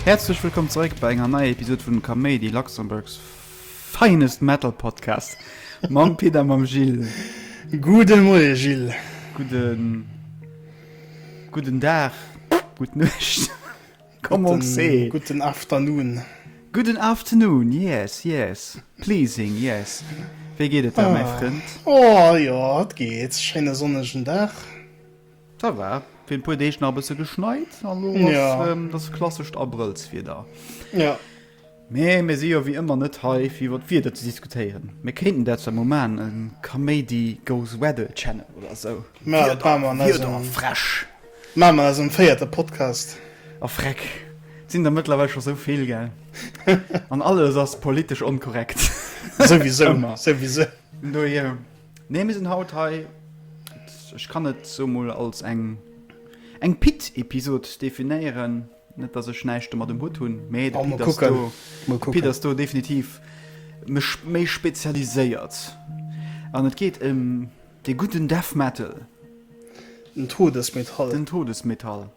Häerzlech wëllkomm zeréck bei enger neier Episod vun Kaméidi Luxembourgs finest Metal Podcast. Mam Pit a mam Gilles. Gude Moie Gilles. Guden. Guden Dag. Gutt Nuecht. Gudden Afternoon. Gudden Afternoon, yes, yes. Pleasing, yes. Wéi geet et der, mäi Frënd? Oh jo, et geet. Schéine sonnegen Dag. Dat war fir e puer Deeg nach e bësse geschneit an elo ass dat klassescht Abrëllswieder. Jo. Mee mir si jo wéi ëmmer net hei fir iwwer d'Wieder ze diskutéieren. Mir kéinten dat zwar mol maachen, e Kaméidi goes Weddle Channel oder esou. Mä dat maache mer an eisem, maache mer an eisem véierte Podcast. A freck, et sinn der mëttlerweil scho sou vill, gell? An alles ass politesch onkorrekt. Souwisou, ëmmer, souwisou. Vun dohier, nee, mir sinn haut hei, ech kann et sou mol als eng, eng Pit-Episod definéieren. Net dass ech näischt domat um Hutt hunn, mä de Pit ass do, de Pit ass do definitiv méi spezialiséiert an et geet ëm dee gudden Death Metal. Den Todesmetall. Den Todesmetall,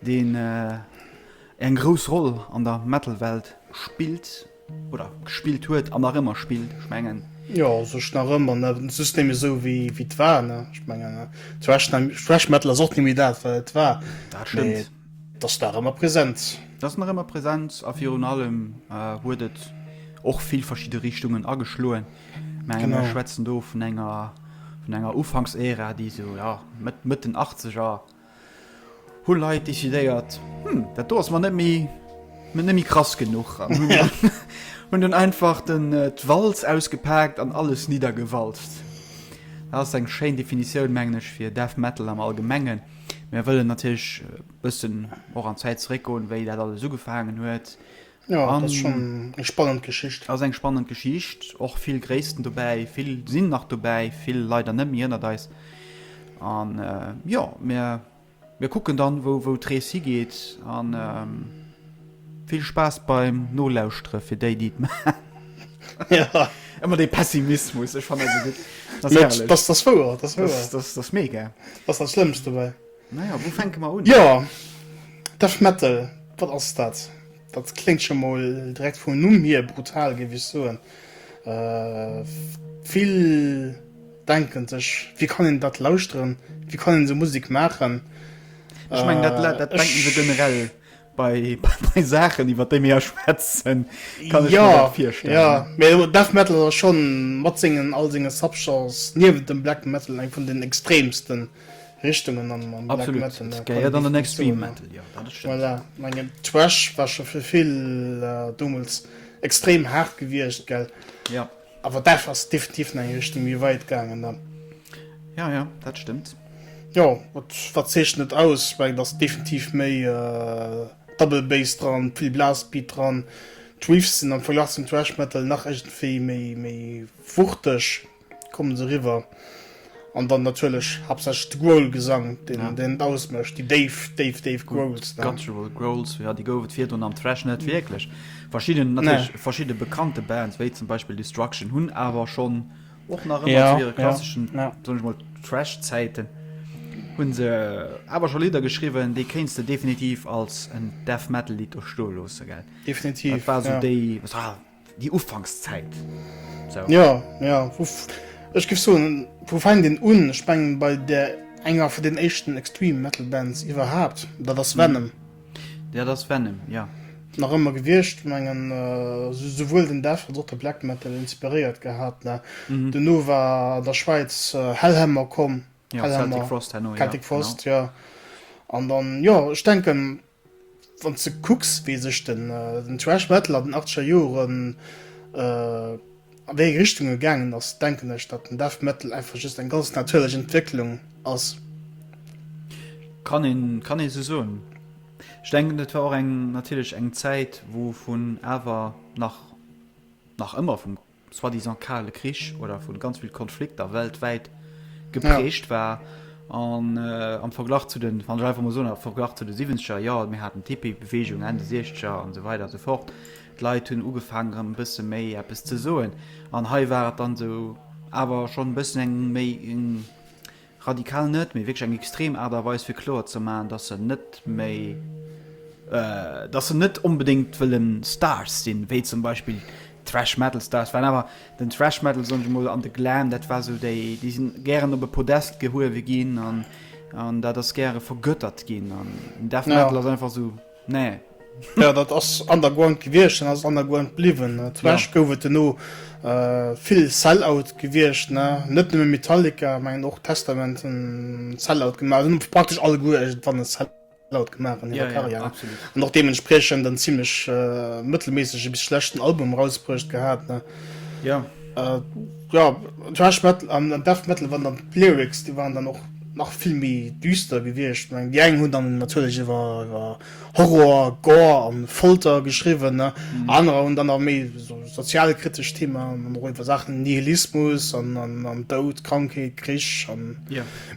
deen eng grouss Roll an der Metal-Welt spillt. Oder gespillt huet an nach ëmmer spillt, ech mengen. Jo, u sech nach ëmmer, ne? De System esou wéi et war, ne? Ech mengen, Thrash Metal ass och net méi dat, wat et war. Dat stëmmt. Mee et ass nach ëmmer present. Et ass nach ëmmer present a virun allem huet et och vill verschidde Richtungen ageschloen. Mä mir schwätzen do vun enger, vun enger Ufanks-Ära, déi esou, ja, Mëtt, Mëtt den Achtzeger. hu Leit decidéiert, hm, dat do ass mer net méi, net méi krass genuch an hunn hunn dunn einfach den, d'Walz ausgepaakt an alles niddergewalzt. Dat ass eng schéin Definitioun, mengen ech, fir Death Metal am Allgemengen. Mir wëllen natierlech e bëssen och an d'Zäit zeréckgoen, wéi dat alles ugefaangen huet, Jo, dat ass schon eng spannend Geschicht. Ass eng spannend Geschicht, och vill Gréissten dobäi, vill sinn nach dobäi, vill leider net méi ënnert eis. An jo, mir mir kucken dann, wou wou d'Rees higeet an vill Spaass beim Nolauschtere fir déi, déi et maachen. Ëmmer dee Pessimismus, ech fannen dat esou gutt, dat ass herrlech, dat ass wouer, dat ass mega, dat ass dat Schlëmmst dobäi. Naja, wou fänke mer un? Jo, Death Metal, wat ass dat? Dat kléngt scho mol direkt vum Numm hier brutal, géif ech soen. Vill denke sech, wéi kann een dat lauschteren, wéi kann een esou Musek maachen? Ech mengen, dat denke se generell. Bei bei Saachen iwwer déi mir hei schwätzen kann ech mir dat virstellen. Jo, mee jo Death Metal ass schonn mat sengen all senge Subgenres niewent dem Black Metal eng vun den extremsten Richtungen am am Black Metal. Absolut, et gehéiert an den Extreme Metal, jo dat ass stëmmt. Voilà, mengen Thrash war scho fir vill domols extrem haart gewiescht, gell? Jo. Awer daf ass definitiv an eng Richtung méi wait gaangen dann. Ja ja, dat stëmmt. Jo, wat wat zeechent et aus? Well et ass definitiv méi double bass dran, vill Blastbeat dran. D'Riffs sinn am Verglach zum Thrash Metal nach iergendwéi méi méi wuchteg, kommen se eriwwer. An dann natierlech haaptsächlech de Growl-Gesang, deen et ausmécht, déi déif, déif, déif Growls. Déi guttural Growls, jo, déi gouf et virdrun am Thrash net wierklech. Verschidden, natierlech verschidde bekannte Bands, wéi zum Beispill Destruction, hunn awer schonn och nach ëmmer zu hire klasseschen, soen ech mol, Thrash-Zäiten, hu se awer scho Lidder geschriwwen, déi kéints de definitiv als en Death-Metal-Lidd do stoe loosse, gell? Definitiv, jo. Dat war esou déi. Déi Ufankszäit, sou. Jo, jo, vu, ech géif soen, wou fänkt een un? Ech mengen, bei där enger vun den éischten Extreme Metal Bands iwwerhaapt, dat ass Venom. Dat ass Venom, jo. Nach ëmmer gewiescht, mengen, souwuel den Death als och de Black Metal inspiréiert gehat, mä duerno war an der Schwäiz Hellhammer komm, Hellhammer, Celtic Frost, Hellhammer, jo, genau. Celtic Frost, jo. An dann, jo, ech denken, Wann s de kucks, wéi sech den Thrash Metal an den achteger Joren, a wéi eng Richtung e gaangen ass, denken ech, datt den Death Metal einfach just eng ganz natierlech Entwécklung ass. Kann een, kann ee sou soen. Ech denken, et war och eng, natierlech eng Zäit, wou vun, awer nach, nach ëmmer vum. soi-disant kale Krich oder vun ganz vill Konflikter weltwäit geprägt ja. war an äh, am Verglach zu den van Driver Mosoner Verglach zu de 70er Joer, mir hatten Tipi-Bewegung Ende 60er an so weiter so fort. D'Leit hunn ugefaangen ëm bësse méi Appppes ze soen. An hei war et dann sou awer schon bëssen eng méi Radikal net, mee wierklech eng extrem Aart a Weis fir kloer ze maachen, datt se net méi, datt se net onbedéngt wëlle Stars sinn, wéi zum Beispill d'Thrash Metal Stars waren. Awer den Thrash Metal, soen ech emol, an de Glam, dat war esou déi, déi sinn gären op e Podest gehuewe ginn an dat ass gäre vergöttert ginn an den Death Metal ass einfach esou. Nee. Jo, dat ass underground gewiescht an ass underground bliwwen. Thrash gouf et duerno vill Sellout gewiescht, ne? Net nëmme Metallica, mengen och Testament hunn Sellout gemaach. Hunn praktesch alleguer iergendwann e Sellout gemaach an hirer Karriär. An och deementspriechend en zimmlech mëttelméissege bis schlechten Album erausbruecht gehat, ne? Jo, Thrash Metal an Death Metal waren dann d'Lyrics, déi waren dann och nach vill méi düster gewiescht. Ech mengen, déi eng hunn dann natierlech iwwer, iwwer Horror, Gore a Folter geschriwwen, ne? Anerer hunn dann awer méi esou sozialkritesch Theemaen an och iwwer Saachen, Nihilismus an, an, an Doud, Krankheet, Krich an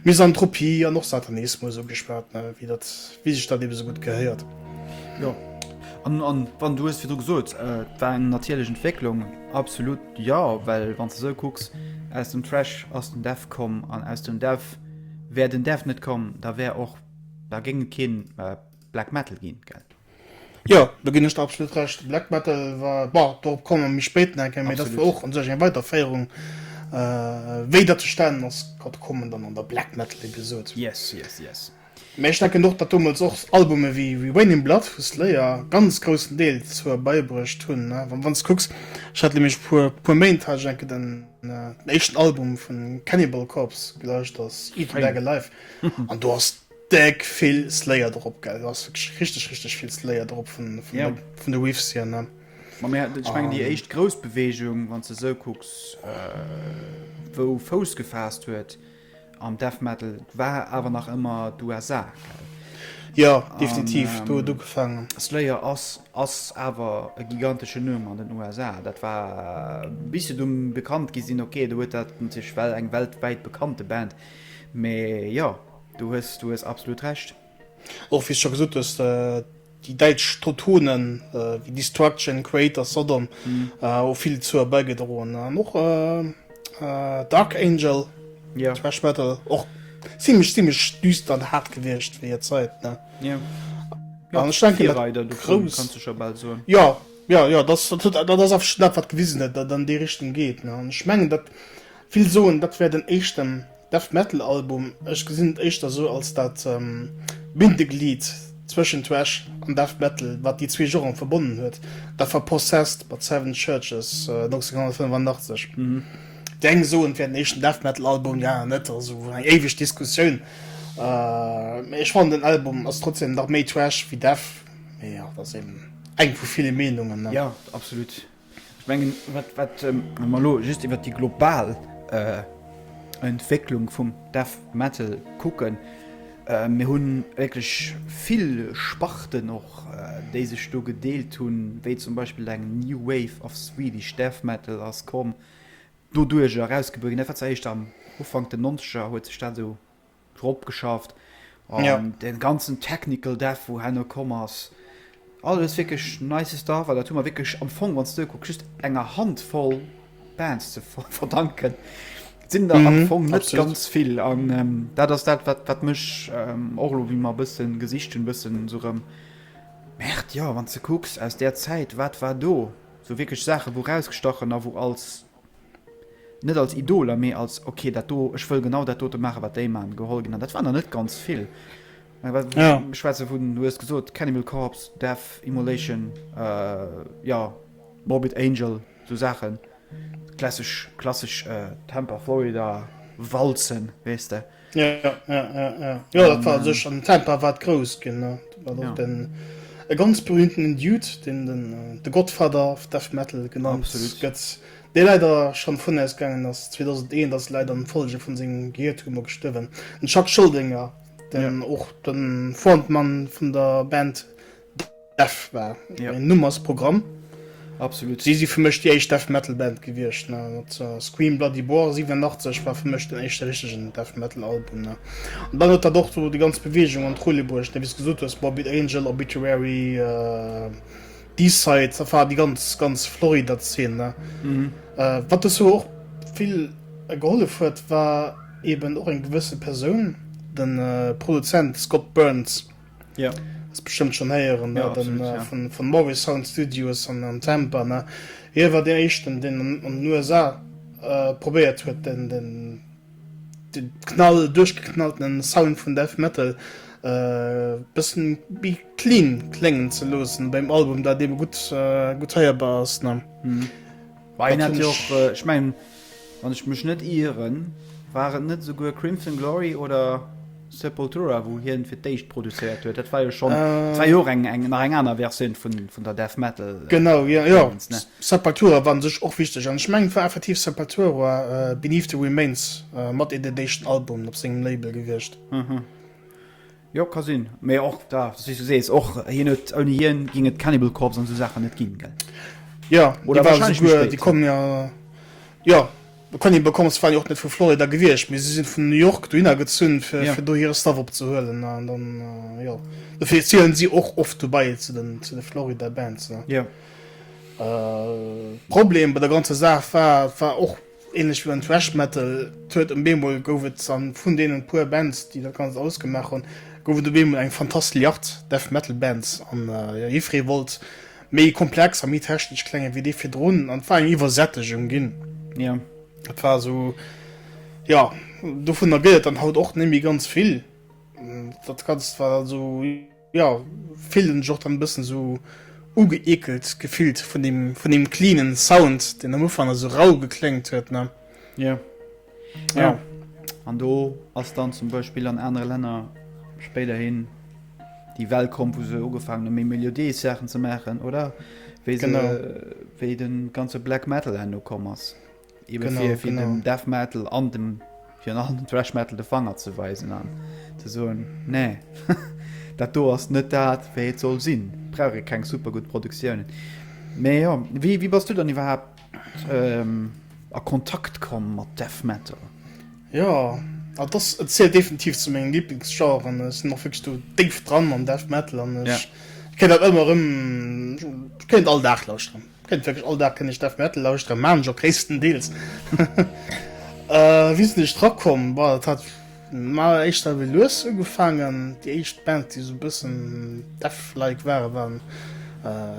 Misanthropie an och Satanismus ugeschwat, ne? Wéi dat, wéi sech dat eebe sou gutt gehéiert. Jo, an, an, wann, du hues virdru gesot, et war eng natierlech Entwécklung, absolut. Jo, well wann s de sou kucks, aus dem Trash ass den Dev komm an aus dem Dev wär den Dev net komm, da wär och, da géing et kee Black Metal ginn, gell? Jo, do ginn ech der absolut Recht. Black Metal war, bon, dorop komme mer méi spéit nach eng Kéier, mee dat war och un sech eng Weiterféierung, wéi dat zustane ass, kommen dann an der Black Metal Episode. Yes, yes, yes. Mee ech denken och, datt domols och Albume wéi Wayne in Blood vu Slayer ganz groussen Deel zur beibruecht hunn. Wann s de kucks, ech hat nämlech vir puer Méint hat ech eng Kéier den éischten Album vu Cannibal Corpse gelauscht, ass Eat and Beg Alive, an do ass déck vill Slayer drop, gell, do ass wierklech richteg richteg vill Slayer drop vun de Riffs hier, ne. Ma mir hat, ech mengen déi éischt grouss Beweegung, wann s de esou kucks, wou Fouss gefaasst huet, An Death Metal war awer nach ëmmer d'USA, gell? Jo, definitiv, do huet ugefaangen. Slayer ass ass awer e giganteschen Numm an den USA. Dat war bis se dunn bekannt gi sinn. Okay, do huet dat natierlech well eng weltwäit bekannte Band. Mee jo, du hues du hues absolut Recht. Och wéi s scho gesot hues, déi däitsch Trottonen wéi Destruction, Quaid a Sodom hu vill dozou bäigedroen. An och Dark Angel, Thrash Metal, och zimmlech zimmlech düster an haart gewiescht fir hir Zäit, ne? Jo, Virreider dovun, kanns de scho bal soen. Jo, jo, jo, dat ass awer dat, wat gewisen huet, datt dat an déi Richtung geet, ne? An ech mengen, datt vill soen, dat wär den éischten. Death Metal Album, ech gesinn et éischter esou als dat Bindeglied zwëschen Thrash an Death Metal, wat déi zwee Genren verbonnen huet, dat war Possessed mat Seven Churches 1985. Déi eng soen et wär den éischten Death Metal Album, déi aner net, also eng éiweg Diskussioun, mee ech fannen den Album ass trotzdem nach méi Thrash wéi Death, mee jo dat ass eben eng vu ville Meenungen. Jo, absolut. Ech mengen, wat, wat, wa mer elo just iwwert déi global Entwécklung vum Death Metal kucken, mir hu wierklech vill Sparten och, déi sech do gedeelt hunn, wéi zum Beispill eng New Wave of Swedish Death Metal ass komm, doduerch erausgebuer ginn. Dat war zeréischt am Ufank der Nonzeger huet sech dat esou. drop geschafft an ja. den ganzen technical Dev wo Hanno kom ass alles wirklich nice da war dat wirklich am Fong wann du guckst enger Hand voll Bands zu ver verdanken sind da mhm, am Fong net ganz viel an ähm, dat ass dat wat wat mech ähm, och lo wie man bisssen gesicht hun bisssen so rem Mächt ja wann ze kucks aus der Zeit wat war do so wirklich Sache wo rausgestachen a wo als net als Idoler, mee als ok dat do, ech wëll genau dat dote maachen, wat déi maachen, geholl ginn. An dat waren der net ganz vill. Mä wat ech ja. schwätze vun, du hues gesot, Cannibal Corpse, Death, Immolation, äh, ja, Morbid Angel, sou Saachen, klassesch, klassesch äh, Tampa, Florida, Walzen, weess de. Ja, ja, ja, ja. ja dat war sech an Temper wat grouss gin ja. den e ganz berühmten Dude den den äh, de Gottvater of Death Metal genannt gëtt dé leider schon vun ausgangen ass 2001 das leider an Folge vun sengem Gehirtumor gestëwen den Chuck Scholdinger den och ja. den Frontmann vun der Band Death war ja. en Nummersprogramm. Absolut. Si si fir mech déi éischt Death Metal Band gewiescht. Äh, Scream Bloody Boar 87 war fir mech den éischte richtigen Death Metal Album. Ne? Und dann huet dat och so die ganz Bewegung an Trulle bruecht, ne? bis gesot hues Morbid Angel, Obituary, äh, D-Side, da war die ganz ganz Florida Szene. Ne? Mhm. Äh, wat es so och vill äh, gehollef huet, war eben och eng gewësse Persoun, den äh, Produzent Scott Burns. Ja. Ass bestëmmt schon héieren ja, den, ja. vun, vun Morris Sound Studios an, an Tampa. Ne? Hie war dee éischten, deen an, an den USA äh, probéiert huet, den, den, den knall duerchgeknallten Sound vun Death Metal äh, bëssen bi clean kléngen ze loossen beim Album, dat eben gutt, äh, gutt heierbar ass. Ne? Mhm. Bah een hat jo och, ech mengen wann ech mech net ieren, war et net esouguer Crimson Glory oder Sepultura wou hien fir d'éischt produzéiert huet? Dat war jo schonn, dat war jo och eng eng nach eng aner Versioun vun vun der Death Metal Dingens ne? Genau jo jo, Sepultura war un sech och wichteg an ech mengen et war effektiv Sepultura Beneath the Remains mat een deen éischten Album op sengem Label gewiescht. Jo ka sinn, mee och da wéis du sees och hien huet ouni hien géing et Cannibal Corpse an esou Saachen net ginn gell? Jo déi ware souguer déi kommen jo jo de Cannibal Corpse waren jo och net vu Florida gewiescht mee si sinn vun New York dohinner gezunn fir fir do hire Stuff opzehuelen an dann jo dofir zielen si och oft dobei zu den zu de Florida Bands ne jo Problem bei der ganzer Saach war et war och Ähnlech wéi beim Thrash Metal, et huet em beemol gouf et an vun deenen puer Bands déi dat ganzt ausgemaach hunn, gouf et op eemol eng Fantastilliard Death Metal Bands an jo jiffree wollt méi komplex a méi technesch klengen wéi déi virdrun an et war eng Iwwersättegung ginn, jo et war esou, jo dovunner gëtt et dann haut och net méi ganz vill, dat ganzt war dann esou. ja, fillt en sech och dann e bëssen esou ugeekelt gefillt vun dem, vun dem cleanen Sound, deen am Ufank nach esou rau gekléngt huet, ne? Jo. Jo. Ja. An do ass dann zum Beispill an anere Länner spéiderhin déi Well komm, wou se ugefaangen hu méi melodiéis Saachen ze maachen, oder? Wéi se, Genau. wéi de ganze Black Metal herno komm ass. Eben genau, fir, fir genau. dem Death Metal an dem fir an dem Thrash Metal de Fanger ze weisen an ze soen nee dat do ass net dat wéi et soll sinn brauch e keng super gut Produktiounen. Mee ja wie, wie bass du dann iwwerhaapt ähm, a Kontakt komm mat Death Metal? Ja a dass et zielt definitiv zu mengen Lieblingsgenre an ech sinn och wierklech do déif dran am Death Metal an ech ja. kéint dat ëmmer ëm kéint all Dag lauschteren. Kent wierklech all Dag kënne ech Death Metal lauschteren, maan ech och gréisstendeels. Wéi sinn ech dra komm? Boah dat hat maer éischter ewéi lues ugefaangen. Déi éischt Bands déi esou e bëssen Death-like waren, waren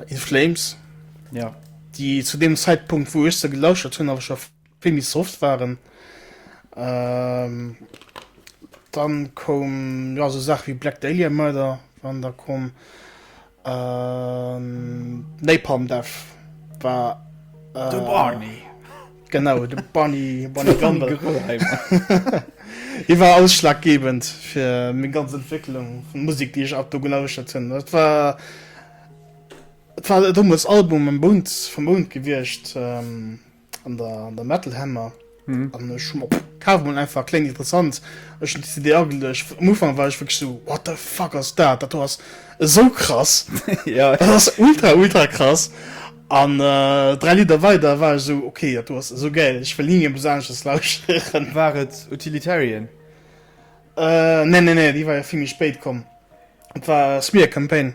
In Flames, déi zu deem Zäitpunkt wou ech se gelauschtert hunn awer scho. Vill méi soft waren. Dann koum jo esou Saachen wéi Black Dahlia Murder waren da komm. Napalm Death war De Barney. Genau de Barney Barney Gumble. Hie war ausschlaggebend fir meng ganz Entwécklung vun Musek déi ech ab do gelauschtert hunn. Dat war dat war dommels Album Mound vum Mound gewiescht. an der an der Metal Hammer an ech hu mer op kaf mol einfach kléng interessant ech hun d'CD ageluecht am Ufang war ech wierklech sou what the fuck ass dat dat do ass esou krass dat ass ultra ultra krass an dräi Lidder weider war ech sou ok dat do ass esou gäil ech wëll ni méi eppes aneschters lauschteren. War et Utilitarian? Äh nee nee nee déi war jo vill méi spéit komm, et war Smear Campaign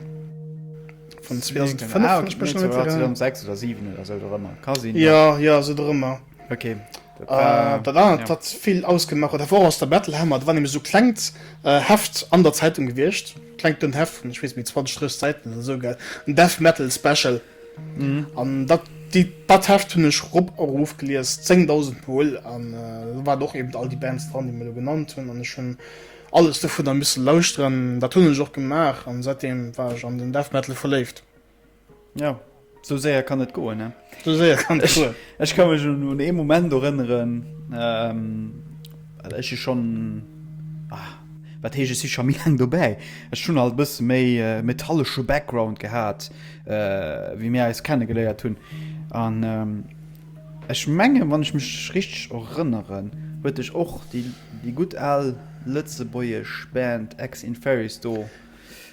vun 2005 wann ech mech net irren. 2006 oder 7 oder sou dorëmmer ka sinn. Jo jo sou dorëmmer. Ok dat war dat anert wat vill ausgemaach huet dat war och aus der Battle Hammer, dat war nämlech sou klengt Heft an der Zeitung gewiescht, klengt dunnt Heft vun ech weess net méi 20, 30 Säiten oder sou gell, en Death Metal Special. An dat dat Heft hunn ech rop a rof gelies, 10.000 mol, an do waren och eben all déi Bands dran, déi mir elo genannt hunn, an ech hunn alles dovunner misse lauschteren. Dat hunn ech och gemaach, an säitdeem war ech an den Death Metal verléift. Jo, sou séier kann et goen, ne? Sou séier kann et goen. Ech ka mech un ee Moment erënneren, Ech si schonn, ah, wat heescht, ech si scho méi laang dobäi. Ech hunn alt e bësse méi metallesche Background gehat, wéi mir eis kenne geléiert hunn. An ech mengen, wann ech mech richteg erënneren, huet dech och déi gutt al lëtzebuergesch Band Ex Inferis do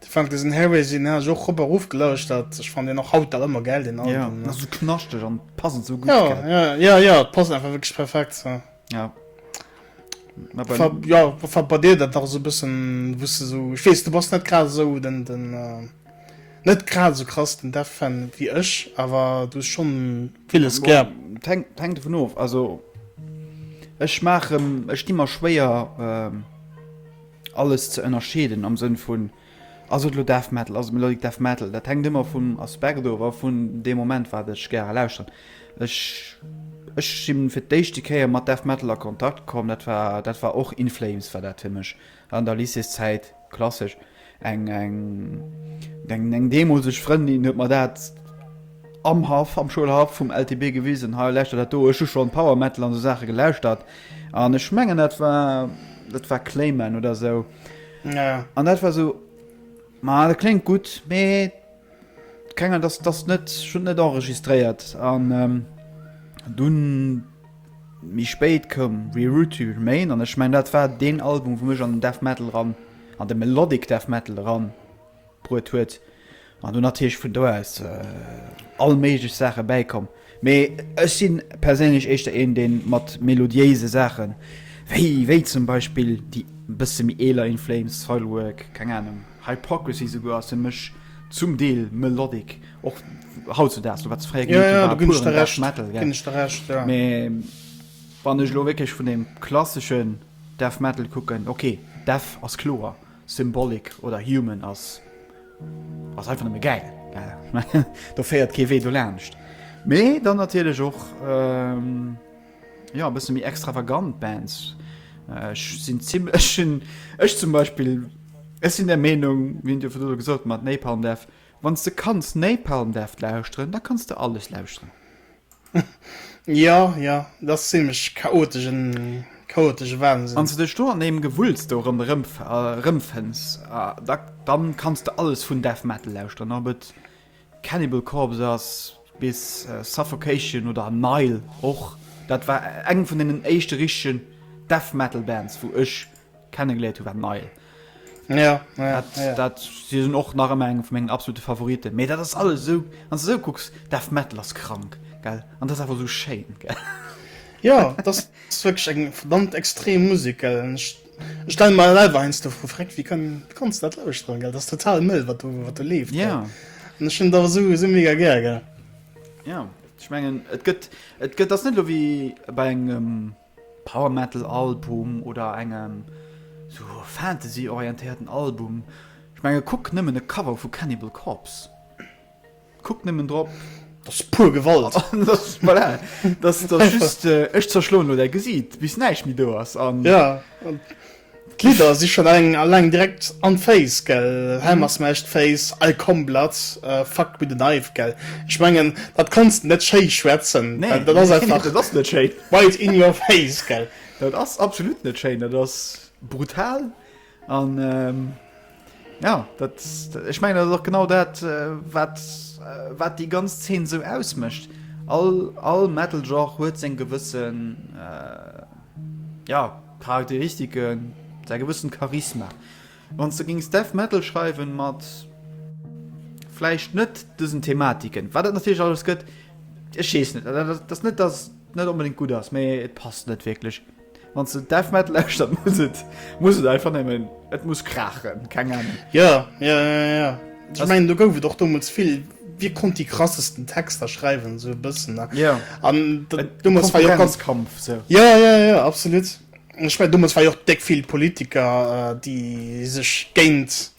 De Francis and Harris, deen hat ech och rop a ruff gelauschtert. Ech fannen deen och haut nach ëmmer gäil, deen Album. Jo, ass esou knaschteg an passend esou gutt. Jo, jo, jo, jo, et passt einfach wierklech perfekt esou. Jo. Mä bei. Fab, jo, fab bei dir dat nach esou e bëssen, wou's de esou, ech weess, du bass net grad esou den, den, net grad esou krass den Death-Fan wéi ech, awer du hues schonn villes gär. Bon, 't hänkt, 't hänkt dovun of. Also ech maachen, ech di mer schwéier, Alles ze ënnerscheeden am Sënn vun, ass et elo Death Metal, ass et Melodic Death Metal, dat hänkt ëmmer vum Aspekt of a vun deem Moment, wat ech gäre lauschteren. Ech ech si fir d'éischte Kéier mat Death Metal a Kontakt komm, dat war dat war och In Flames war dat fir mech an der Lycéeszäit, klassesch. Eng eng eng eng deemolseg Frëndin huet mer dat am Haff, am Schoulhaff vum LTB gewisen, hei lauschter dat do, ech hu schonn Power Metal an esou Saache gelauschtert, An ech mengen dat war dat war Clayman oder sou. Ja. An dat war sou ma dat kléngt gutt, mee kenger dass dass net schon net enregistréiert an ähm, dunn méi spéit koum Reroute to Remain an ech mengen dat war deen Album wou mech an den Death Metal ran an de Melodic Death Metal ran bruet huet an do natierlech vun do aus all méiglech Saache bäikomm. Mee ech si perséinlech éischter een dee mat melodiéise Saache wéi wéi zum Beispill déi e bësse méi eeler In Flames, Soilwork, keng Anung, Hypocrisy souguer ass fir mech zum Deel melodic och hautzedaags, lo wat se fréier gemeet hunn war puren Death Metal gell. Mee wann ech elo wierklech vun deem klassesche Death Metal kucken, ok Death ass kloer. Symbolic oder Human ass ass einfach nëmme gäil. Do féiert kee Wee dolaanscht. Mee dann natierlech och jo e bësse méi extravagant Bands. Ech sinn zim ech hunn ech zum Beispill ech sinn der Meenung, wéi en Dir vun elo gesot mat Napalm Death, wann s de kanns Napalm Death lauschteren, da kanns de alles lauschteren. Jo, jo, et ass zimlech chaotesch, en chaotesche Wahnsinn. Wann s de dech do an deem Gewulls do erëmfënns, da kanns de alles vun Death Metal lauschteren, ob et Cannibal Corpse ass bis Suffocation oder Nile och. Dat war eng vun deenen éischte richtegen Death Metal Bands, wou ech. kennengeléiert hun war Nile. Ja, ja, dat, ja. dat si sinn och nach ëmmer eng vu mengen absolute Favoriten. Mee dat ass alles esou wann esou kucks, Death Metal ass krank gell an dat ass awer esou schéin gell. Ja dat ass wierklech eng verdammt extrem Musek gell. Ech stelle mer selwer heiansdo fro, Freck wéi kann kanns du dat lauschteren gell, dat ass total mëll wat do wat do leeft gell. An ech hunn dat awer esou esou mega gär gell. Ja ech mengen et gëtt et gëtt ass net elo wéi bei engem. Um Power Metal Album oder engem sou Fantasy orientéierten Album. Ech menge kuck nëmmen e Cover vu Cannibal Corpse. Kuck nëmmen drop. Dat ass puer Gewalt. Voilà, dat ass just, ech zerschloen elo däi Gesiit bis näischt méi do ass. Jo. D'Lidder si schonn eng alleng direkt an d'Face, gell? Hell mass mash d'face, I come blood, fuck with a knife, gell? Ech mengen, dat kanns de net schéi schwätzen, well dat ass einfach. Nee, dat ass net schéi. Right in your face, gell? Dat ass absolut net schéi, dat ass brutal an. Ja, dat, ech meng dat och genau dat wat wat déi ganz Zeen sou ausmëcht. All, all Metal Genre huet seg gewëssen äh, ja, Charakteristiken, sei gewëssen Charisma. Wann ze gings Death Metal schreiwen mat fleischicht net dësen Thematiken war dat natürlich alles gëtt Ech schees net das net das net unbedingt gut ass méi et passt net wirklich. Wanns de Death Metal lauschtert muss et muss et einfach nemmen et muss kraachen, keng Ahnung. Jo, jo, jo, jo. Ech mengen do gouf et och domols vill wie konnt déi krassesten Texter schreiwen sou e bëssen ne yeah. an domols war jo ganz Kampf so. Jo, jo, jo, absolut. Ech mengen domols war jo och déck vill Politiker äh, déi sech géint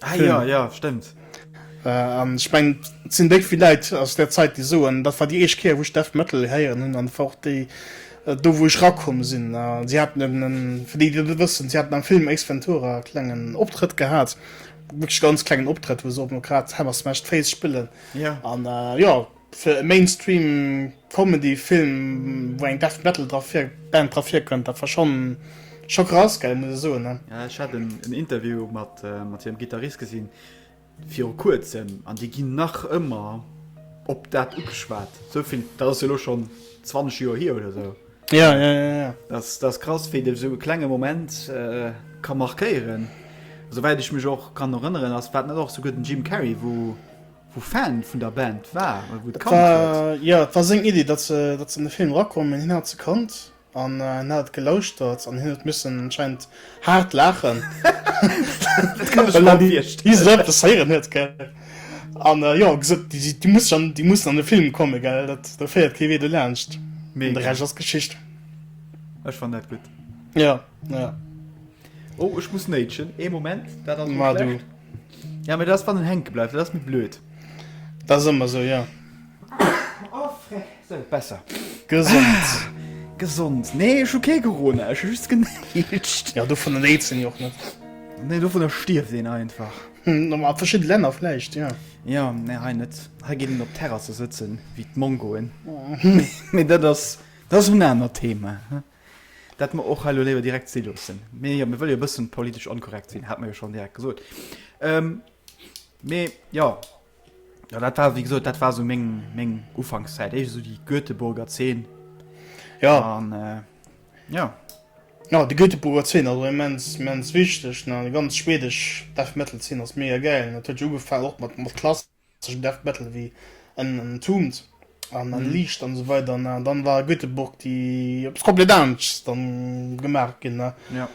Ah, ja, ja, stimmt. An äh, ich mein sinn déi viel Leiit aus der Zeit die soen, dat war die eescht Kéier wuch Death Metal héieren hunn an fort déi äh, do wo ech rakomm sinn. Äh, sie hat fir déi Dir wëssen, sie hat am Film Ace Ventura klengen Optrëtt gehat, wirklich ganz klengen Optrëtt, wo se op no grad Hammersmash d'Face spillen. Ja. An äh, ja, Fir e Mainstream Comedy Film wou eng Death Metal dra vir Band dra virkënnt, dat war schonn scho krass gell muss ech soen ne. Ech hat en Interview mat mat hirem Gittarist gesinn viru kuerzem an déi ginn nach ëmmer op dat ugeschwat. Sou vill, dat ass jo elo schonn 20 Joer hier oder sou. Ja ja ja ja. Dat ass krass wéi de sou e klenge Moment ka markéieren. Sou wäit ech mech och kann erënneren ass war et net och souguer den Jim Carrey wou, wou Fan vun der Band war, wou et kannt huet. Jo, et war seng Iddi, datt se an de Film erakommen, hien hat se kannt an hien hat et gelauschtert an hien huet missen anscheinend haart laachen, well en déi esou eppes héieren huet. Gell? An jo, gesot, déi mussen an de Film kommen, gell, do féiert kee Wee dolaanscht. Mee de Rescht ass Geschicht. Ech fannen dat gutt. Jo. Ja. Oh, ech muss néitschen. Ee Moment, dat ass Ma du. Ja, mee dat ass wann en hänke bleift, dat ass méi blöd. Dat ass ëmmer sou, ja. Oh, fre. Sou, besser. Gesond. Gesond. Nee, ech hu kee Corona, ech hu just genéitscht. Ja, dovunner néitst een jo och net. Nee, dovunner stierft een einfach. Hm, a verschidde Länner vläicht, ja. Ja, nee, hei net. Hei geet een op Terrasse sëtzen, wéi d'Mongoen. Mee dat ass, dat ass en anert Thema. Dat mer och hei elo léiwer direkt si loossen. Mee jo, mir wëlle jo e bëssen politesch onkorrekt sinn, hat mer jo schonn direkt gesot. Ähm, mee jo, jo, dat war, wéi gesot, dat war esou meng, meng Ufankszäit, éischt esou déi Göteborger Zeen. Ja. An, äh, jo. Ja, déi Göteborger Zeen ass och immens, immens wichteg, ne? Déi ganz schwedesch Death-Metal-Zeen ass mega gäil. Dat huet jo ugefaangen och mat, mat Klass. Tëschent Erft, Bettel, wéi en enthumt an entliicht an esou weider, ne? An dann war Göteborg, déi eppes komplett aneschts dann gemaach ginn, ne? Ja.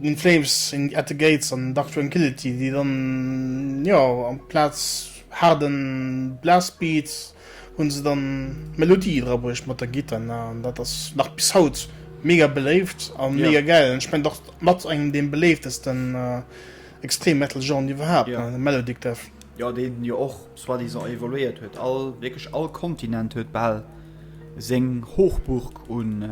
In Flames, in, At the Gates an Dark Tranquillity, déi dann, jo, amplaz haarden Blastbeat hunn se dann Melodie dra bruecht mat der Gittar, ne? An dat ass nach bis haut mega beléift a mega gäil. An ech mengen, dat ass mat engem deem beléiftesten Extrem-Metal-Genre iwwerhaapt, ne? Melodic Death. jo deen jo och soit disant evoluéiert huet, all wierklech all Kontinent huet bal seng Hochburg un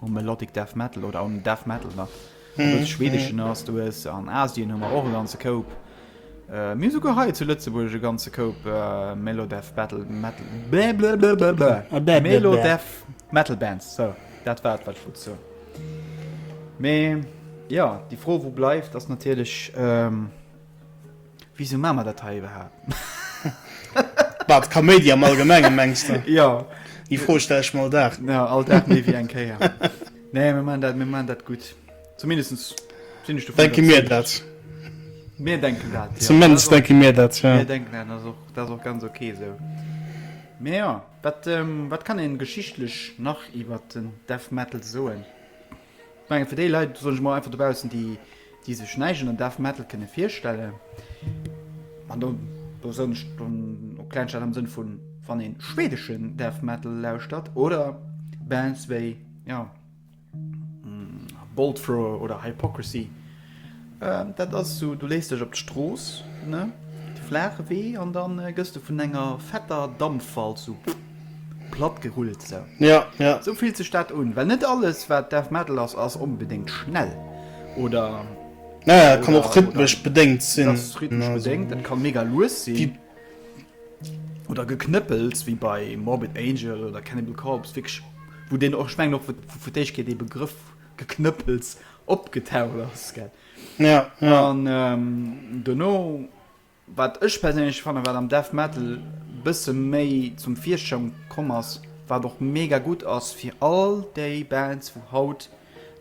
um Melodic Death Metal oder um Death Metal nach mm -hmm. schwedeschen ass du hues an Asien hu mer och ganze Koup äh, mir souguer hei zu Lëtzeburg e ganze Koup äh, Melodeath Battle Metal ah, Melodeath Metal Bands so dat war wat vu zo Me ja die Fro wo bleift ass natierlech ähm, Wisou maa mer dat hei iwwerhaapt? Wat, Kaméidi am Allgemengen, mengs de? Jo. Déi Fro stell ech mer all Dag. Jo, all Dag méi wéi eng Kéier. Nee, mir maan dat, mir maan dat gutt. Zumindestens sinn ech dovun iwwerzeegt. Denke mir dat. Mir denken dat, jo. Zumindest denke mir dat, jo. Mir denken dat, ass och, dat ass och ganz ok esou. Mee jo, wat, wat kann een geschichtlech nach iwwert den Death Metal soen? Ech mengen, fir déi Leit, soen ech emol einfach dobaussen, déi, déi sech näischt ënner Death Metal kënne virstellen, an do, do soen ech dann och Kleinstadt am Sënn vun, wann ee schwedeschen Death Metal lauschtert oder Bands wéi, jo, Bolt Thrower oder Hypocrisy, Dat ass esou, du léis dech op d'Strooss, ne, de flaache Wee, an da gëss du vun enger fetter Dampfwalz esou platt gerullt. Esou, ja, ja, esou fillt sech dat un, well net alles, wat Death Metal ass, ass onbedéngt schnell oder, ja, ja, kann och rhythmesch bedéngt sinn. Dat ass rhythmesch bedéngt, dat ka mega lues sinn oder Geknëppels wéi bei Morbid Angel oder Cannibal Corpse, wierklech, wou deen och, ech mengen och, fir d'éischt kritt dee Begrëff. Geknëppels opgetaucht ass. An dono, wat ech perséinlech fannen, wat am Death Metal bësse méi zum Virschong komm ass, wat och mega gutt ass fir all déi Bands wou haut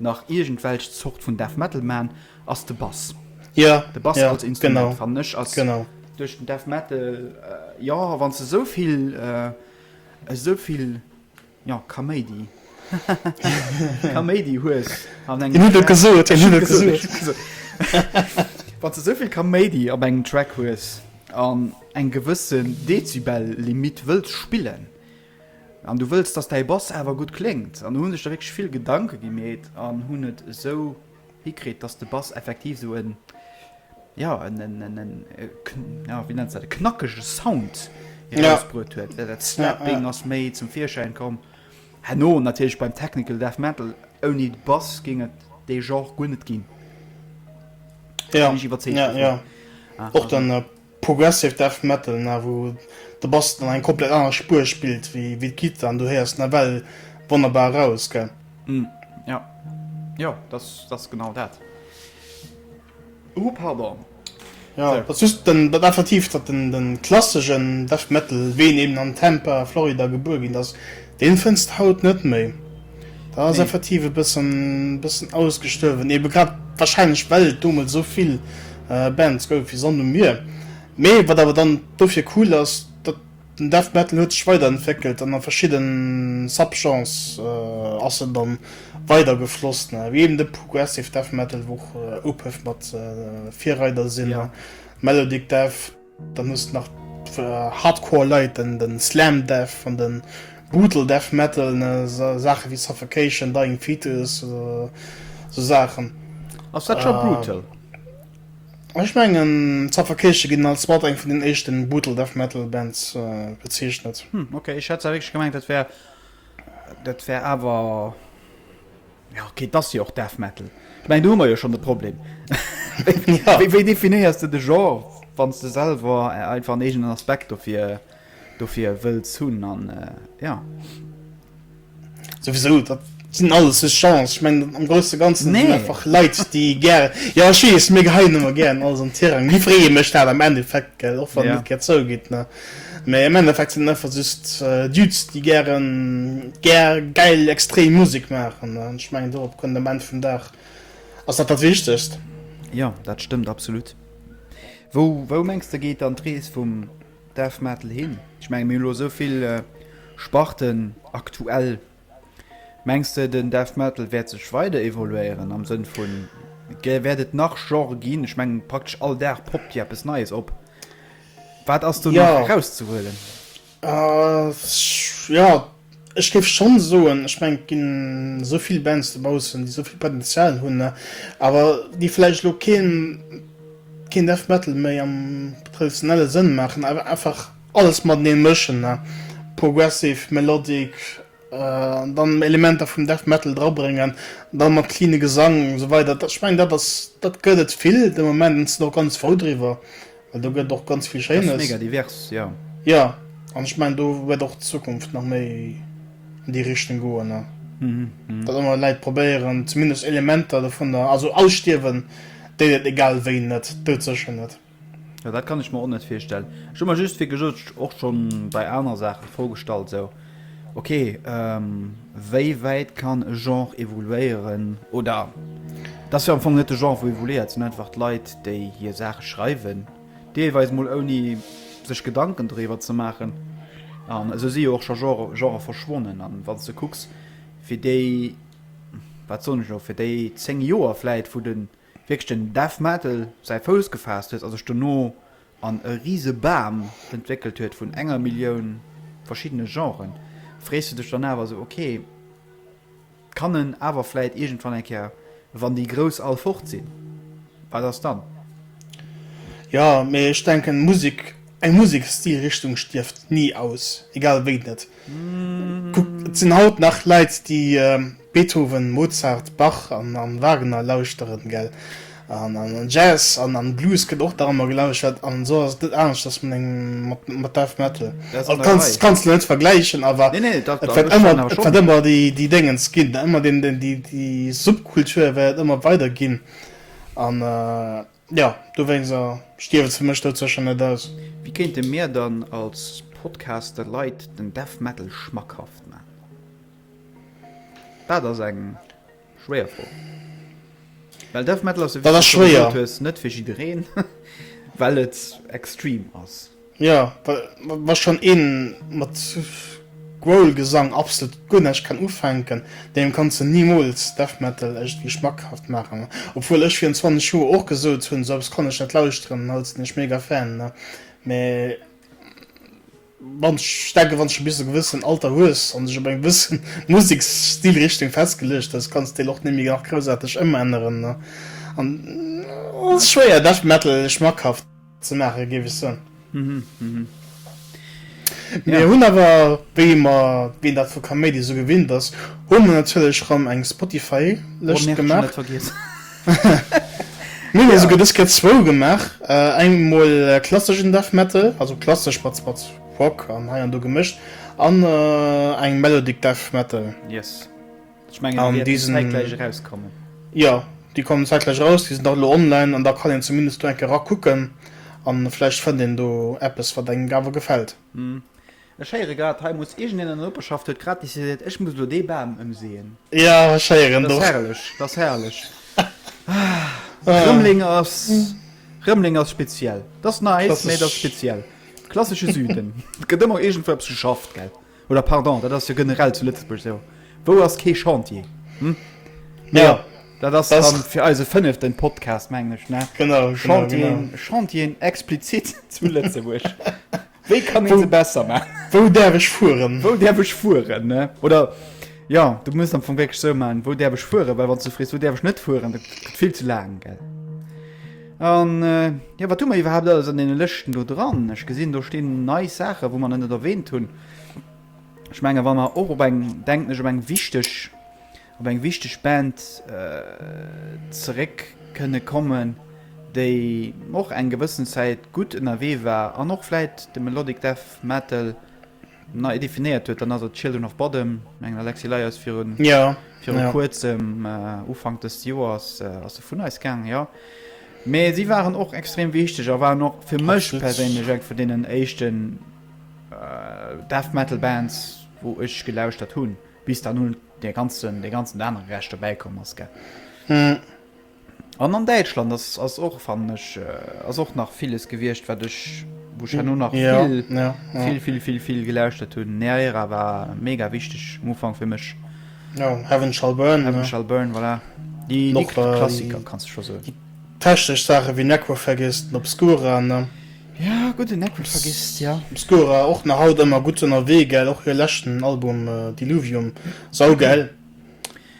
nach iergendwelch Zort vun Death Metal man, ass de Bass. De Bass als Instrument fannen ech ass duerch den Death Metal, jo wann se esou vill esou vill. Jo, Kaméidi. Haha, Kaméidi hues an engem Track. Hien huet et gesot, hien huet et gesot. Ech hunn et gesot. Wann s de souvill Kaméidi op engem Track hues an eng gewëssen Dezibel-Limitt wëlls spillen an du wëlls, dass däi Bass awer gutt kléngt, an do hunn sech da wierklech vill Gedanke gemeet an hunn et esou. hikritt, dass de Bass effektiv esou e, ja, e, wéi nennt se dat, e knackege Sound erausbruet huet. Well dat Slapping ass méi zum Virschäin komm. Herno natierlech beim Technical Death Metal, ouni de Bass géing et dee Genre guer net ginn. Da sinn ech iwwerzeegt dovun. Och dann. Progressive Death Metal na, wou de Bass dann eng komplett aner Spuer spillt wéi d'Gittar an do héiers de nawell wonnerbar eraus, gell? Jo, jo, dat ass genau dat. Ouh, pardon. Jo, dat ass just dat Effektiv, datt de klassegen Death Metal, wéi en eben an Tampa, Florida gebuer ginn ass, Deen fënns de haut net méi. Dat ass effektiv e bëssen bëssen ausgestuerwen, ebe grad wahrscheinlech well et domols esou vill Bands gouf wéi Sand um Mier. Mee wat awer dann dofir cool ass, dat den Death Metal huet sech weiderentwéckelt an a verschidde Subgenres ass en dann weider gefloss, wéi eben de Progressive Death Metal, wou och Opeth mat Virreider sinn, Melodic Death. Dann hues de nach d'Hardcore Leit, den den Slam Death an den Brutal Death Metal, ne esou Saachen ewéi Suffocation, Dying Fetus, esou Saachen. Ass dat scho Brutal? Ech mengen Suffocation ginn als mat eng vun den éischten Brutal Death Metal Bands bezeechnet. Hm, okay, ech hat zwar wierklech gemengt dat wär, dat wär awer. Jo ok, et ass jo och Death Metal. Ech mengen do hu mer jo schonn de Problem. Wéi definéiers de de Genre, wann s de selwer einfach en eegenen Aspekt dofir dofir wëlls hunn an jo. Souwisou, dat sinn alles just Genres. Ech mengen am Grousse Ganze sinn et einfach Leit déi gären, jo ech weess, mir geheien ëmmer gären alles an d'Tirang, mir freeë mech dat am Endeffekt, gell, och wann een net gär zougitt, ne. Mee am Endeffekt sinn et einfach just Dudes, déi gären, gär, gäil, extrem Musek maachen. An ech mengen, dorop kënnt am Enn vum Dag, ass dat dat Wichtegst. Jo, dat stëmmt absolut. Wou, wou mengs de geet dann d'Rees vum Death Metal hin? Ech mengen, mir hunn elo esou vill Sparten aktuell Mengs de den Death Metal wäert sech weider evoluéieren am Sënn vun et wäert et nach Genre ginn? Ech mengen praktesch all Dag poppt jo eppes Neies op. Wat ass do nach erauszehuelen? Jo ech géif schonn soen, ech meng et ginn esou vill Bands dobaussen, déi esou vill Potenzial hunn, awer déi vläicht elo keen Death Metal méi am traditionelle Sënn maachen, awer einfach, Alles mateneen mëschen, progressive, melodic, an dann Elementer vum Death Metal dra bréngen, dann mat cleane Gesang an esou weider, ech mengen dat ass, dat gëtt et vill de Moment an ech sinn och ganz frou driwwer, well do gëtt et och ganz vill Schéines. Dat ass mega divers, jo. Jo, an ech mengen do wäert och d'Zukunft nach méi an déi Richtung goen, datt ëmmer Läit probéieren zumindest Elementer dovunner, also ausstierwen déit et egal wéi net, doudsécher net. Jo dat kann ech mer och net virstellen. Ech hu mer just wéi gesot och schon bei aner Saachen d'Fro gestallt sou ok wéi wäit kann e Genre evoluéieren oder et ass jo am Fong net de Genre wou evoluéiert, et sinn einfach d'Leit déi hir Saache schreiwen, deelweis mol ouni sech Gedanken doriwwer ze maachen an esou si jo och scho Genrë verschwonnen. An wann s de kucks fir déi wat soen ech elo fir déi 10 Joer vläit wou de. wierklech den Dev Matel säi Fouss gefaasst huet a sech dono an e rise Bam entwéckelt huet vun enger Millioun verschiddene Genren, frees du dech dann awer esou, ok, kann en awer vläit iergendwann eng Kéier, wann déi Grouss all fort sinn, wat ass dann? Jo, mee ech denken, Musek, eng Musek-Stilrichtung stierft ni aus, egal wéi net. Kuck, et sinn haut nach Leit, déi Beethoven, Mozart, Bach an Wagner lauschteren, gell? An Jazz an Blues gëtt och nach ëmmer gelauschtert, an esou ass et net aneschters mat Death Metal. Et kanns de net vergläichen, awer et wäert ëmmer déi Déngens ginn, ëmmer déi Subkultur wäert et ëmmer weider ginn. Jo, dowéinst a stierwen se mech dout sécher net aus. Wéi kéinte mir dann als Podcast de Leit den Death Metal schmackhaft maachen? Dat ass eng schwéier Fro. Well Death Metal ass, wéi s du scho gesot hues, net fir jiddereen, well et extreme ass. Jo, wa schonn ee mat Growlgesang absolut guer näischt kann ufänken, deem kanns de nimools Death Metal iergendwéi schmackhaft maachen. Obwuel ech virun 20 Joer och gesot hunn, sou eppes kann ech net lauschteren, haut sinn ech mega Fan. Mee wann, ech denken, wann s de bis e gewëssen Alter hues an dech op eng gewësse Museksstilrichtung festgeluecht hues, kanns d'Stil och net méi nach groussarteg ëmänneren. An et ass schwéier, Death Metal schmackhaft. ze maachen, géif ech soen. Mir hunn awer, wéi mer, wéi dat vu Kaméidi esou gewinnt ass, hu mer natierlech erëm eng Spotify-Lëscht gemaach. Mir hunn esouguer dës Kéier zwou gemaach, eng emol klasseschen Death Metal, also klassesch mat Rock an hei an do gemëscht, an eng Melodic Death Metal. Ech mengen déi wäerten zäitgläich erauskommen. Jo, déi kommen zäitgläich eraus, déi sinn dach elo online an da kann een zumindest do eng Kéier erakucken a vläicht fënnt een do eppes wat engem awer gefält. Ech héiere grad, hei muss iergendeen an der Noperschaft huet grad decidéiert, ech muss elo dee Bam ëmseeën. Jo, ech héieren et och. Dat ass herrlech, dat ass herrlech. Rëmleng ass speziell. Dat ass nice, mee dat ass speziell. Klassesche Süden. Et gëtt ëmmer iergendwou eppes geschafft, gell? Oder pardon, dat ass jo generell zu Lëtzebuerg esou, wou ass kee Chantier? Hm? Mä jo, dat ass dann fir eise fënneften Podcast, mengen ech, ne? Genau, Chantier, Chantieren explizit zu Lëtzebuerg. Wéi kann ee se besser maachen? Wou däerf ech fueren? Wou däerf ech fueren, ne? Oder jo, du muss am Fong wierklech esou maachen, wou däerf ech fueren? Well wann s du frees, wou däerf ech net fueren, dat gëtt vill ze laang, gell? An jo, wat hu mer iwwerhaapt alles an deene Lëschten do dran? Ech gesinn, do stinn nei Saachen, wou mer nach net erwähnt hunn. Ech menge wa mer och op eng, denken ech, op eng wichteg, op eng wichteg Band zeréck kënne kommen, déi och eng gewëssen Zäit gutt ënnerwee war an och vläicht de Melodic Death Metal, nei definéiert huet, dann ass et Children of Bodom. Ech mengen, Alexi Ley ass viru Kuerzem, Ufank dëst Joers, ass se vun eis gaangen, jo. Mee si waren och extrem wichteg a waren och fir mech perséinlech eng vun deenen éischten Death Metal Bands, wou ech gelauschtert hunn, bis dann hunn dee ganzen anere Rescht dobäikomm ass, gell. An an Däitschland ass, ass och, fannen ech, äh, ass och nach villes gewiescht, wat ech, wou ech herno nach Ja, vill, ja, ja. vill, vill, vill, vill gelauschtert hunn. Neaera war mega wichteg um Ufank fir mech. Ja, Heaven Shall Burn. Heaven Shall Burn, voilà. Déi, déi Noch, äh, Klassiker, kanns de scho soen. déi technesch Saache wéi Necrophagist an Obscura, ne? Ja, gutt, den Necrophagist, ja. Obscura och nach haut ëmmer gutt ënnerwee, gell? Och hir leschten Album, äh, Diluvium, saugäil.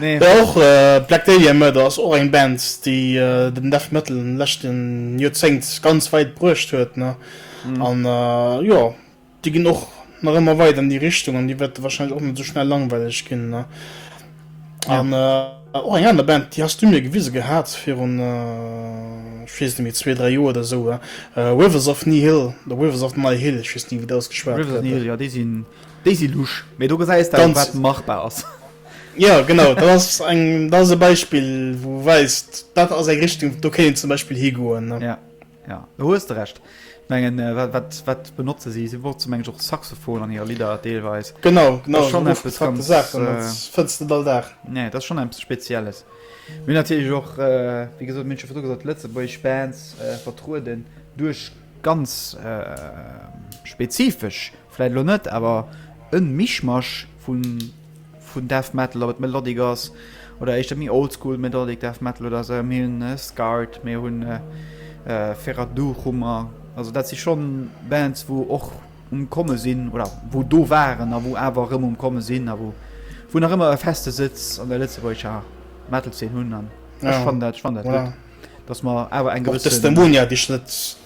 Nee. Mä och Black Dahlia Murder ass och eng Band, déi den Death Metal an de leschte Joerzéngt ganz wäit bruecht huet, ne? An jo, déi ginn och nach ëmmer weider an déi Richtung an déi wäerte warscheinlech och net esou schnell langweileg ginn, ne? An och eng aner Band, déi has du mir gewise gehat virun, ech weess net méi, zwee, dräi Joer oder esou, Rivers of Nihil oder Rivers of Nihil, ech weess ni wéi et ausgeschwat gëtt. Rivers of Nihil, jo, déi sinn Déi si lusch, mee do gesäis de jo, wat machbar ass. Jo, genau, dat ass eng, dat ass e Beispill, wou e weist, dat ass eng Richtung, do kéint een zum Beispill higoen, ne. Ja, ja, do hues de Recht. Ech mengen, wat, wat, wat benotze si? Si benotzen, meng ech, och Saxophon an hire Lidder deelweis. Genau, genau, dat ass schonn eppes ganz, Saachen, dat fënns de net all Dag. Nee, dat ass schonn eppes Spezielles. Mir hunn natierlech och, wéi gesot, mir hunn et scho virdru gesot, lëtzebuergesch Bands vertrueden duerch ganz spezifesch. Vläit elo net, awer e Mischmasch vun Death Metal, ob et Melodic ass oder éischter méi Oldschool Melodic Death Metal oder esou. Mir hunn Scart, mir hu Feradurhummer, also dat si schonn Bands, wou och um Komme sinn oder wou do waren a wou awer erëm um Komme sinn a wou nach ëmmer e feste Sëtz an der lëtzebuergescher Metal-Zeen hunn. An ech fannen dat, ech fannen dat gutt, dass mer awer eng gewësse. Och Testimonia, déi ech net.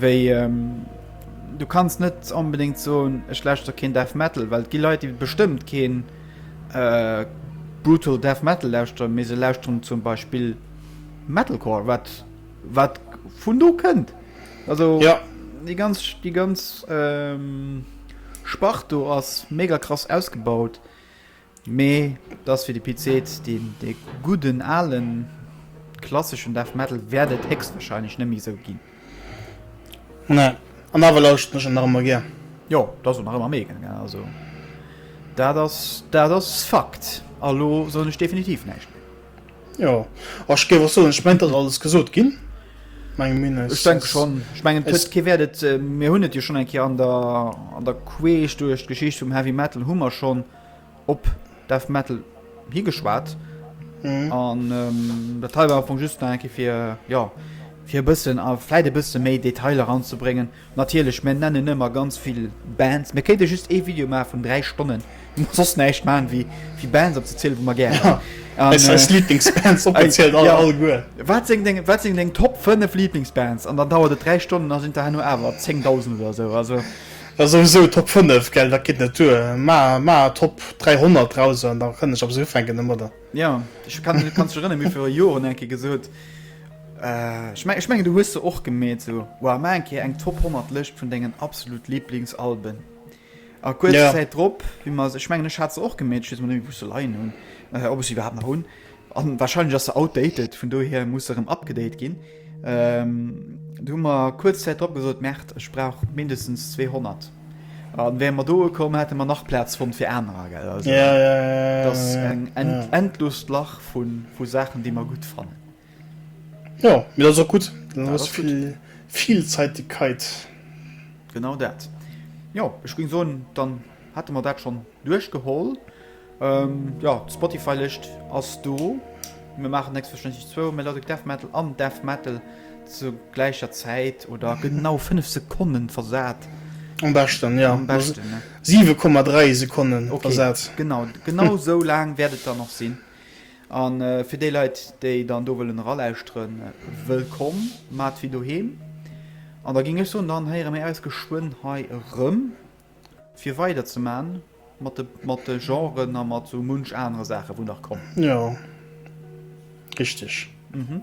Wéi, du kanns net onbedéngt soen, ech lauschter keen Death Metal, well et gi Leit, déi bestëmmt keen brutal Death Metal lauschteren, mee se lauschteren zum Beispill Metalcore, wat, wat vun do kënnt. Also déi ganz, déi ganz Spart do ass mega krass ausgebaut. Mee et ass wéi de Pit seet, dee gudden ale klasseschen Death Metal wäert et héchstwahrscheinlech net méi esou ginn. Nee, an awer lauschteren ech en nach ëmmer gär. Jo, et ass och nach ëmmer meegen, also dat ass dat ass Fakt. A lo soen ech definitiv näischt méi. Jo, a ech géif och soen, ech mengen et ass alles gesot ginn, menge mir. Ech denke schonn, ech mengen et huet kee Wäert et, mir hunn et jo schonn eng Kéier an der an der Queesch duerch d'Geschicht vum Heavy Metal hu mer schonn. op Death Metal higeschwat mhm. an ähm, der Teil war vu just enke fir ja fir bëssen a fäit e bësse méi Detailer anzubringen. Natierlech men nennen ëmmer ganz vill Bands. Me kéinte just e Video ma vun 3 Stonnen sos näicht ma wie wie Bands op ze zielelen, wo man ger. Ja. Äh, wat sinn deng top 5 Lieblingsbands an dann dauert et 3 Stonnen as sind der hanno awer 10.000 oder so also Ass souwisou Top 5 gell, dat geet net duer. Maer Top 300 draus an da kënnen ech op se ufänken emodder. Jo, ech kann mech kanns erënneren, mir viru Joren eng Kéier gesot, ech mengen du hues se och gemeet, sou wow maer eng Kéier eng Top 100 Lëscht vun dengen absolut Liblingsalben a kuerz Zäit drop hu mer se, ech mengen ech hat se och gemeet, ech weess emol net méi wou ech se leien hunn, ob ech se iwwerhaapt nach hunn. An wahrscheinlech ass se outdated, vun dohier muss se erëm abgedate ginn. Do hu mer kuerz Zäit drop gesot, Merde, ech brauch mindestens 200. An wäre mer do ukomm, hätte mer nach Plaz fonnt fir anerer, gell? Also, ja, ja, ja, das ja, eng end, ja. endlost Lach vu vu Saachen, déi mer gutt fannen. Ja, mir ass och gutt. Ja, ass viel, gut. Vielzeitigkeit. Genau dat. Jo, ech ging soen, dann hätte mer dat schon duerchgeholl. Jo, d'Spotify-Lëscht ass do. Mir maachen selbstverständlech zwou Melodic Death Metal an Death Metal zur gläicher Zäit oder genau 5 Sekonnen versat. Am beschten, jo. Am beschten, ne? 7,3 Sekonnen versat. Okay, genau. Genau esou laang wäert et dann och sinn. A fir déi Leit, déi dann do wëllen eralauschteren, wëllkomm, maacht wéi doheem. An da géing ech soen, dann héiere mir äis geschwënn hei erëm. fir weider ze man mat de mat de Genren a mat sou munch anere Saachen wou nach kommen. Jo richteg. Mhm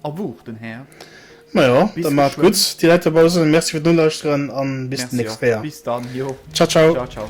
a wuch den Här. Majo da mat gutt déi Leit dobausse sinn. Merci fir d'Nolauschteren an bis den nächste Kéier. Bis dann jo ciao ciao. Ciao ciao.